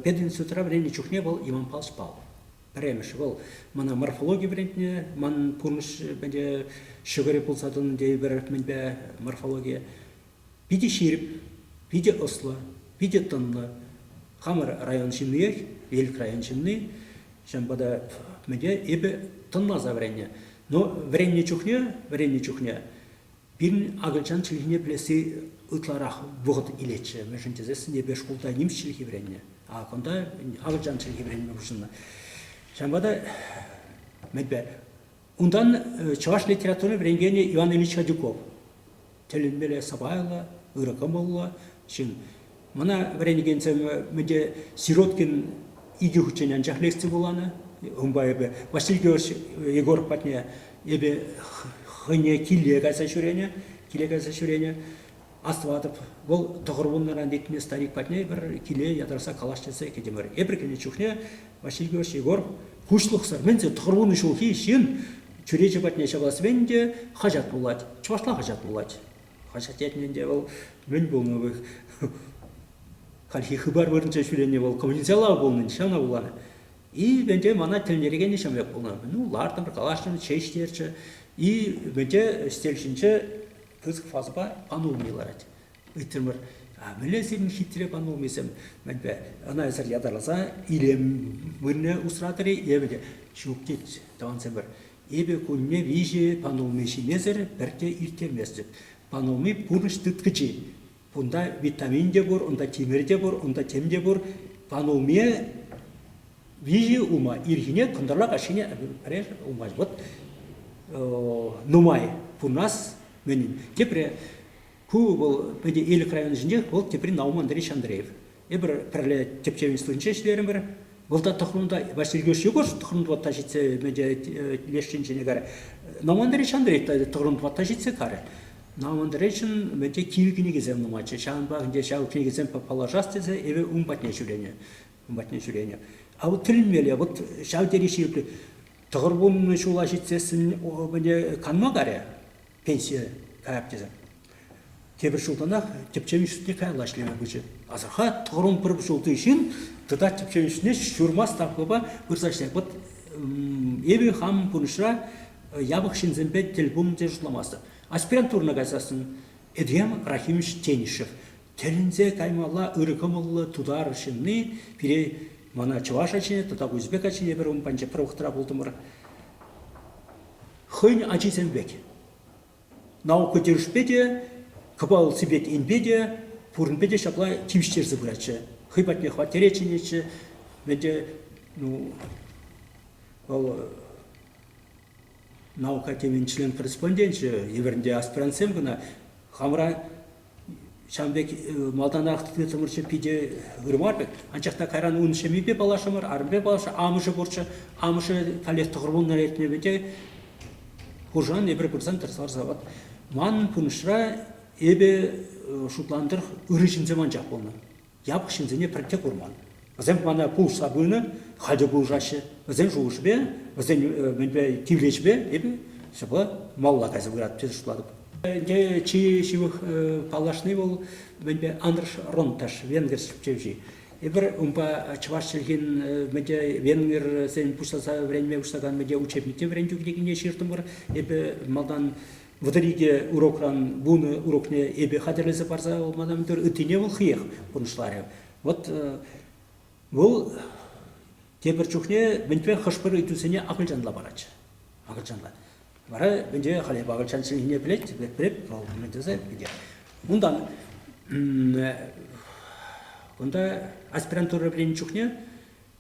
Пединститутра вӗреннӗ чухне вӑл Иванпа ӑспа. Пӗрремӗш вӑл мана морфологи вӗрентнӗ, ман пурнӑҫ ҫӑкӑрӗ пулса тӑнӑ тейӗпӗр мӗнпе морфологи. Питӗ ҫирӗп, питӗ ӑслӑ, питӗ тӑнлӑ. Хамӑр район ҫынниех, Элӗк район ҫынни. Ҫавӑнпа та мӗнле, эпӗ тӑнласа вӗреннӗ. Но вӗреннӗ чухне, вӗреннӗ чухне пирӗн акӑлчан чӗлхине пӗлесси ытларах вӑхӑт илетчӗ. Мӗншӗн тесессӗн эпӗ шкулта нимӗҫ чӗлхи вӗреннӗ. А кунта акӑлчан чӗлхи вӗренме пуҫӑннӑ. Ҫавӑнпа та мӗнпе Унтан чӑваш литератури вӗренкенӗ Иван Ильич Радюков тӗлӗнмелле сӑпайлӑ, ырӑ кӑмӑллӑ ҫын. Мана вӗренекенсем мӗнте Сироткин икӗ хутчен анчах лекци вуланӑ. Унпа эпӗ Василий Георгиевич Егоров патне эпӗ хӑйне киле кайса ҫӳренӗ, киле кайса ҫӳренӗ. Астӑватӑп, вӑл тӑхӑр вуннӑран лекмен старик патне пӗр киле ятарса калаҫ тесе кӗтӗмӗр. Эпир кӗнӗ чухне Василий Георгиевич Егор куҫлӑхсӑр, мӗн те тӑхӑр вунӑ ҫулхи ҫын чӳрече патне ҫавалас мӗн те хаҫат вулать. Чӑвашла хаҫат вулать. Хаҫат ятне ӗнтӗ вӑл мӗн пулнӑ вӑй. Хальхи хыпар вырӑнче ҫӳренӗ вӑл коммуницалав пулнӑ, ҫавна вуланӑ. И ӗнтӗ мана тӗлӗнтерекенни ҫав пек пулнӑ. Ну, лартӑмӑр, калаҫрӑмӑр, чей ҫитерчӗ. И ӗнтӗ стель ҫинче пысӑк фазӑпа панулми ларать. Ыйтрӑмӑр, а мӗнле сирӗн хитре панулмисем? Мӗнпе ӑна эсӗр ятарласа илем вырӑнне усратӑр-и? Эпӗ те, ҫук тет тӑвансемӗр. Эпӗ кунне виҫӗ панулми ҫимесӗр пӗртте ирттерместӗп. Панулми пурнӑҫ тыткӑчи. Кунта витамин те пур, унта тимӗр те пур, унта тем те пур. Пан улми виҫи улма ирхине кӑнтӑрла каҫхине пӗреш улма вот нумай пурнас мӗнин. Тепре ку вӑл пӗтӗ Элӗк районӗсенчех вӑл тепри Науман Андреевич Андреев. Эпир пӗрле тӗпчев институтӗнче ӗҫлерӗмӗр. Вӑл та тӑхрунта, Василий Георгиевич Егорович тӑхрунтватта ҫитсе леш тӗнчене карӗ. Навандаричан та тӑхрунтватта ҫитсе карӗ. Навандаричан мӗнте кивӗ кӗнекесем нумайччӗ. Ҫавӑнпах ӗнтӗ ҫав кӗнекесем паллашас тесе эпӗ ун патне ҫӳренӗ. Ун патне ҫӳренӗ. А вот тӗлӗнмелле, вот ҫав тери ҫирӗп. Тӑхӑр вуннӑ ҫула ҫитсессӗн канма карӗ. пенсие каяп тесе. Тепӗр ҫултанах тӗпчев институтне каялла ӗҫлеме пычӗ. Асӑрхат, тӑхӑрмун пӗр ҫулти ҫын тата тӗпчев институтне ҫурма ставкӑпа пырса ӗҫлет. Вот эпӗ хам пурнӑҫра япӑх ҫынсемпе тӗл пулни те шутламастӑп. Аспирантурӑна кайсассӑн Эдриан Рахимович Тенишев тӗлӗнсе каймалла ырӑ кӑмӑллӑ тутар ҫынни пире мана чӑваш ачине тата узбек ачине пӗр ун панчӑкра ухтӑра пултӑмӑр. хӑйӗн ачисем пек. Наука тӗлӗшпе те, кӑпалсипе енпе те, пуринпе те ҫапла тивӗҫтерсе пыратчӗ. Хӑй патне хваттере чӗнетчӗ. Ӗнтӗ, ну, вӑл наука темин член-корреспонденчӗ, евӗрӗнте аспирантсем кӑна. Хамӑра ҫавӑн пек малтанах тытӑмӑрччӗ питӗ ырма пек, анчах та кайран ун ҫемйипе паллашрӑмӑр, арӑмӗпе паллашрӑмӑр. Амӑшӗ пурччӗ, амӑшӗ каллех тӑхӑр вунна лекнӗ те хуршан эпир пырсан тӗрӗс ларса вот. Манӑн пурнӑҫра эпӗ шутлантӑр ырӑ ҫынсем анчах пулнӑ. япӑх ҫынсене пӗртте курман. Вӗсем мана пулӑшса пынӑ, халь те пулӑшаҫҫӗ. Вӗсен шухӑшӗпе, вӗсен мӗнпе тивлечӗпе эпӗ ҫапла малалла кайса пыратӑп тесе шутлатӑп. Ӗнтӗ чи ҫывӑх паллашни вӑл мӗнпе Андрш Ронташ, венгер чӗлхи. Эпир унпа чӑваш чӗлхин мӗнте венгерсен пуҫласа вӗренме пуҫлакан мӗнте учебникне вӗрентӳ кӗнекине ҫыртӑмӑр. Эпӗ малтан Вӑтӑр икӗ урокран вунӑ урокне эпе хатӗрлесе парса мадам митер ыттине вӑл хиех пурнӑҫларӗ. Вот вӑл тепӗр чухне мӗнпе хӑш-пӗр ыйтусене акӑлчанла паратчӗ. Акӑлчанла. Вара мӗнте халӗ акӑлчан чӗлхине пӗлет, пӗлеп, вӑл мӗн тесе пӗтет. Унтан унта аспирантура вӗреннӗ чухне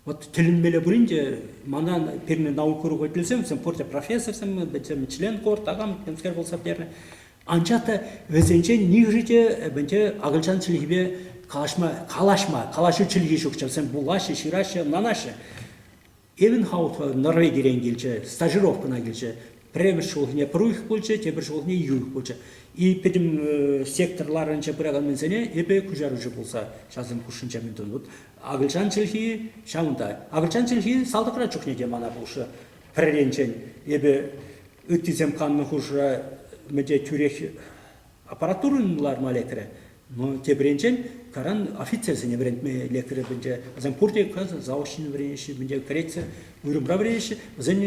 Вот тӗлӗнмелле пулин те манан пирӗн наука уроку пӗлсем, вӗсем пурте профессорсем, вӗсем член кор, такам темскер пулса пӗтернӗ. Анчах та вӗсенчен нихӑшӗ те бенче акӑлчан чӗлхипе калаҫма, калаҫма, калаҫу чӗлхи ҫукчӗ. Вӗсем вулаҫҫӗ, ҫыраҫҫӗ, ӑнланаҫҫӗ. Эвенхаутла Норвегирен килчӗ, стажировкӑна килчӗ. Пӗрремӗш ҫулхине пӗрух пулчӗ, тепӗр ҫулхине юх пулчӗ. И пӗтӗм сектор ларӑнче пыракансене эпӗ куҫаруҫӑ пулса ҫавсем хушшинче мӗн тунӑ. Акӑлчан чӗлхи ҫавӑнта. Акӑлчан чӗлхи салтакра чухне те мана пулӑшрӗ. Пӗрринчен эпӗ ыттисем каннӑ хушӑра мӗнте тӳрех аппаратура ларма лекрӗ. Но тепринчен таран офицерсене вӗрентме лекрӗ пӗнче. Вӗсем пурте касӑ заочно вӗренеҫҫӗ, пӗнче кӗретсӗр уйрӑмра вӗренеҫҫӗ. Вӗсен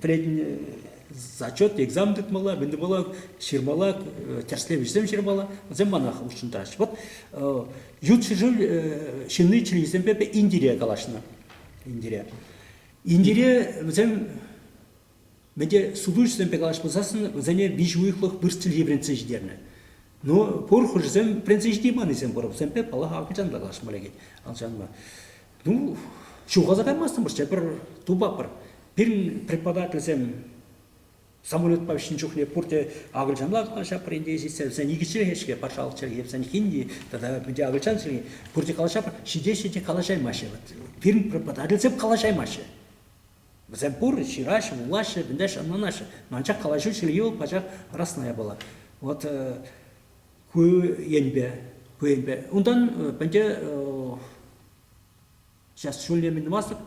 пӗлетӗн зачет, экзамен тытмалла, мӗн тупмалла, ҫырмалла, тӗрӗслев ӗҫсем ҫырмалла. Вӗсем мана хутшӑнтараҫҫӗ. Вот ют ҫӗршыв ҫынни чӗлхисемпе Индире калаҫнӑ. Индире. Индире вӗсем Мӗн те сутуҫӑсемпе калаҫ пулсассӑн вӗсене виҫӗ уйӑхлӑх вырӑс чӗлхи вӗрентсе ҫитернӗ. Ну, пур хушӑсем вӗрентсе ҫити панисем пурӑпсемпе, паллах, акӑлчан та калаҫма лекет. Алшанма. Ну, ҫухалса каймастӑмӑрччӗ, пӗр тупапӑр. Пирӗн преподавательсем самолетпа ӗҫнӗ чухне пурте акӑлчанла калаҫапӑр ӗнтӗ ҫитсе, вӗсен икӗ чӗлхе-ҫке, патшалӑх чӗлхи, вӗсен хинди тата пӗрте акӑлчан чӗлхи. Пурте калаҫапӑр, ҫитеҫҫӗ те калаҫаймаҫҫӗ. Вот пирӗн преподавательсем калаҫаймаҫҫӗ. Вӗсем пур, ҫыраҫҫӗ, вулаҫҫӗ, вӗнтеҫҫӗ, ӑнланаҫҫӗ. Анчах калаҫу чир йывӑр, пачах расная была. Вот ку енпе, ку енпе. Унтан пӗнте сейчас шуле минмастӑк,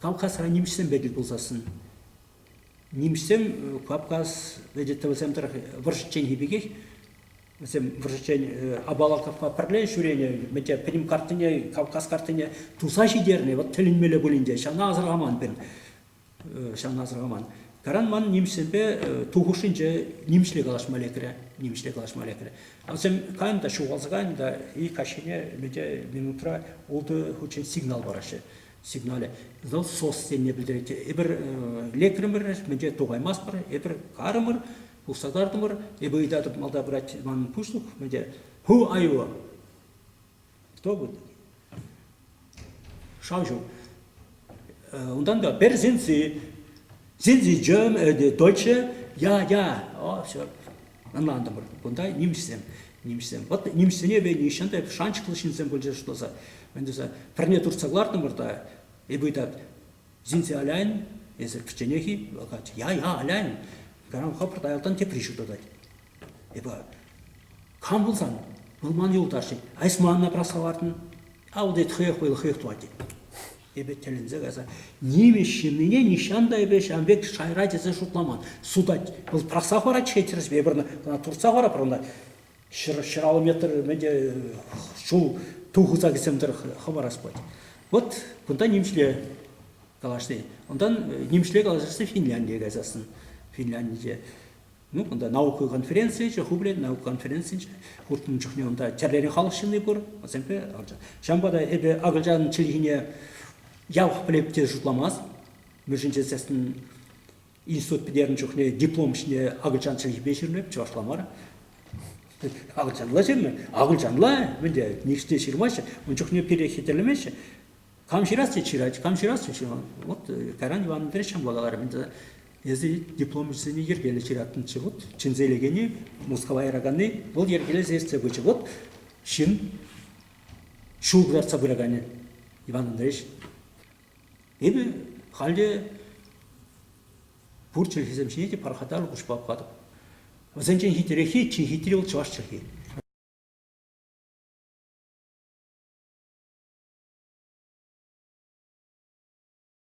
Кавказра нимӗҫсемпе тӗл пулсассӑн. Нимӗҫсем Кавказ, видите, вӗсем тӑрӑх вӑрҫӑчченхи пекех Вӗсем вӑрҫӑччен Абалаковпа пӗрле ҫӳренӗ, мӗнте Крим картине, Кавказ картине туса ҫитернӗ, вӑт тӗлӗнмелле пулин те, ҫавна асӑрхаман пирӗн, ҫавна асӑрхаман. Каран ман нимӗҫсемпе ту хушшинче нимӗҫле калаҫма лекрӗ, нимӗҫле калаҫма лекрӗ. Вӗсем кайӑн та, ҫухалса кайӑн та, ик каҫхине мӗнте минутра ултӑ хутчен сигнал параҫҫӗ. Сигналӗ вӑл СОС тенине пӗлтерет. Эпир лекрӗмӗр, мӗнте тухаймастпӑр, эпир карӑмӑр, Пухса картӑмӑр. Эпӗ ыйтатӑп, малта пырать манӑн пуҫлӑх. Мӗн те, who are you? Кто вы? Шаучу. Унтан та пер синси, синси джем, дольче, я, я. О, все. Ӑнлантӑмӑр. Кунта нимӗҫсем. Нимӗҫсем. Вот нимӗҫсене ве нихҫан та шанчӑклӑ ҫынсем пулчӗҫ шласа. Мӗн тесе, пӗрне туртса кӑлартӑмӑр та, эпӗ ыйтат, Sind Sie allein? Эсир кӗчченех-и? Вӑл калать, я-я, allein. Кайран хӑпӑрт аялтан тепри ҫутатать. Эпӗ кам пулсан, вӑл ман юлташӗ, а эс манна прославартӑн? А вот это хӑех вӑйлӑ хӑех тӑвать. Эпӗ тӗлӗнсе кайса, нимӗҫ ҫыннине нихҫан та эпӗ ҫавӑн пек шайра тесе шутламан. Сутать, вӑл тӑрӑхса хӑварать-ҫке тӗрӗспе пӗр кӑна туртса хӑварать пӗр кӑна. ҫӗр ҫӗраллӑметрӗ те ҫул тухӑсакӗсем тӑрӑх хӑварас пулать. Вот кунта нимӗҫле калаҫни. Унтан нимӗҫле калаҫасси Финляндие кайсассӑн Финляндие. Ну, кунта наука конференцийӗччӗ, хублен наука конференцийӗччӗ. Хуртӑн чухне унта тӗрлӗрен халӑх ҫынни пур. Васемпе ҫавӑнпа та эпӗ акӑлчан чӗлхине явах пӗлеп те шутламас. Мӗшӗн тесессӗн Институт пӗтернӗ чухне диплом ҫине акӑлчан чӗлхипе ҫырнӑ, чӑвашла мар. Акӑлчанла ҫырнӑ, акӑлчанла, мӗнте ништӗ ҫырмаҫҫӗ, ун чухне пире хитрлемеҫҫӗ. Кам ҫырасси ҫырать, кам ҫырасси ҫырать. Вот э, Кайран Иван Андреевича благодарам. Ӗнтӗ эсӗ дипломҫӑсене йӗркеллӗ ҫыраттӑнччӗ. Вот чӗнсе илекенни, Мускава яраканни, вӑл йӗркелесе ертсе пычӗ. Вот ҫын, ҫул кӑтартса пыраканӗ, Иван Андреевич. Эпӗ халӗ пур чӗлхесем ҫине те пархатарлӑ куҫпа пӑхатӑп. Вӗсенчен хитрехи чи хитри вӑл чӑваш чӗлхи.